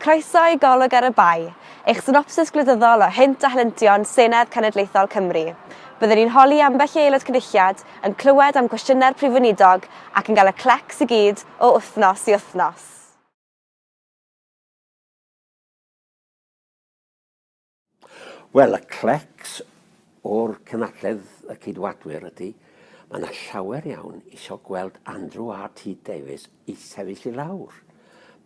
Croeso i Golwg ar y Bae, eich synopsis gwleidyddol o hynt a helyntion Senedd Cenedlaethol Cymru. Byddwn ni'n holi ambell i Aelod Cynulliad yn clywed am gwestiynau'r Prif Weinidog ac yn cael y clecs i gyd o wythnos i wythnos. Wel, y clecs o'r cynadledd y Ceidwadwyr ydy, mae 'na llawer iawn isio gweld Andrew RT Davies i sefyll i lawr.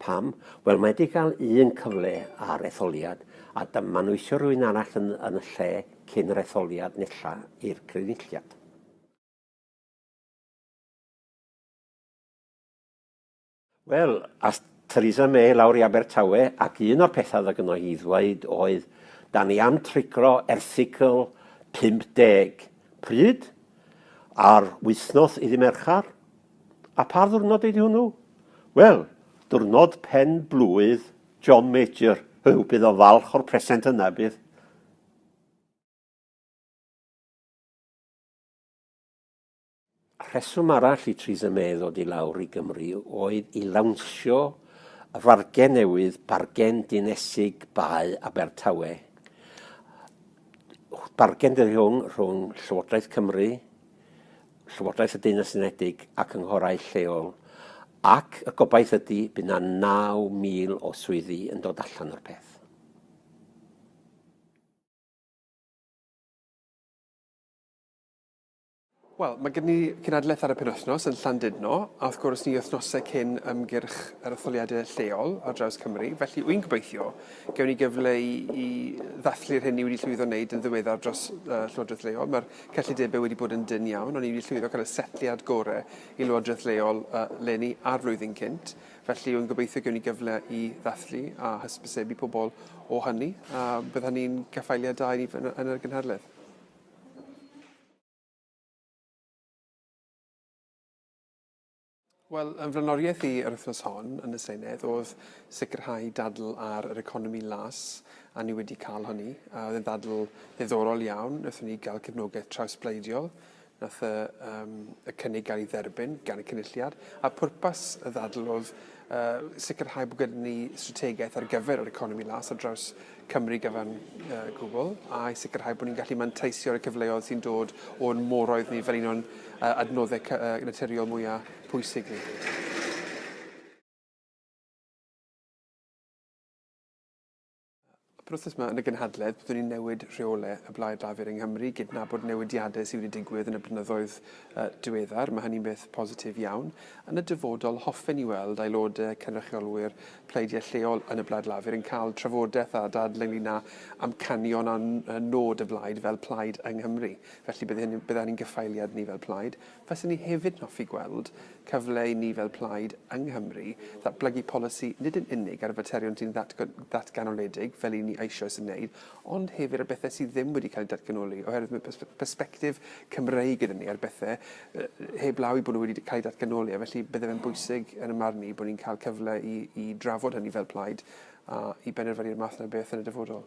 Pam? Wel, mae 'di gael un cyfle ar etholiad, a dyma nhw isio rhywun arall yn, yn y lle cyn yr etholiad nesa i'r Crynulliad. Wel, ath Theresa May lawr i Abertawe ac un o'r pethau oedd gynno hi i ddweud oedd, 'da ni am trigro erthygl 50. Pryd? Ar wythnos iddi Merchar. A pa ddiwrnod ydi hwnnw? Wel, diwrnod pen blwydd John Major. Huw, bydd o'n falch o'r present yna, bydd? Rheswm arall i Theresa May ddod i lawr i Gymru oedd i lawnsio y fargen newydd, bargen dinesig Bae Abertawe. Bargen dydi hwn rhwng Llywodraeth Cymru, Llywodraeth y Deyrnas Unedig ac ynghorau lleol, ac y gobaith ydy bydd yna 9,000 o swyddi yn dod allan o'r peth. Wel, mae gen ni gynadledd ar y penwythnos yn Llandudno, a wrth gwrs ni wythnosau cyn ymgyrch yr etholiadau lleol ar draws Cymru, felly wy'n gobeithio gewn ni gyfle i, i ddathlu'r hyn ni wedi llwyddo wneud yn ddiweddar dros uh, Llywodraeth Leol. Mae'r cyllidebau wedi bod yn dyn iawn, ond ni wedi llwyddo cael y setliad gore i Lywodraeth Leol uh, leni a'r flwyddyn cynt, felly wy'n gobeithio gewn ni gyfle i ddathlu a hysbysebu pobl o hynny, a bydd hynny'n gaffaeliad da i ni yn, yn y gynhadledd. Wel, yn fy flaenoriaeth i yr wythnos hon yn y Senedd oedd sicrhau dadl ar yr economi las, a ni wedi cael hynny. A oedd e'n ddadl ddiddorol iawn. Wnaethon ni gael cefnogaeth trawsbleidiol. Nath y, um, y cynnig gael ei dderbyn gan y cynulliad. A pwrpas y ddadl oedd uh, sicrhau bod gyda ni strategaeth ar gyfer yr economi las ar draws Cymru gyfan gwbl, a'i sicrhau bod ni'n gallu manteisio'r y cyfleoedd sy'n dod o'n moroedd ni fel un o'n adnoddau naturiol mwyaf pwysig ni. Yr wythnos yma yn y gynhadledd, byddwn ni'n newid rheolau y Blaid Lafur yng Nghymru, gydnabod newidiadau sydd wedi digwydd yn y blynyddoedd diweddar, mae hynny'n beth positif iawn. Yn y dyfodol, hoffen ni weld aelodau cynrychiolwyr pleidiau lleol yn y Blaid Lafur yn cael trafodaeth a dadl ynglyn â amcanion a nod y Blaid fel plaid yng Nghymru. Felly, bydd hyn, bydd ein gyffaeliad ni fel plaid. Faswn i hefyd yn hoffi gweld cyfle i ni fel plaid yng Nghymru ddatblygu polisi nid yn unig ar y faterion sy'n ddatganoledig, fel i ni eisoes yn wneud, ond hefyd ar bethau sydd ddim wedi cael eu datganoli, oherwydd mae persbectif Cymreig gyda ni ar bethau heb law i bod nhw wedi cael eu datganoli, a felly bydde fe'n bwysig yn y marn i bod ni'n cael cyfle i, i drafod hynny fel plaid a i benderfynu'r math yna beth yn y dyfodol.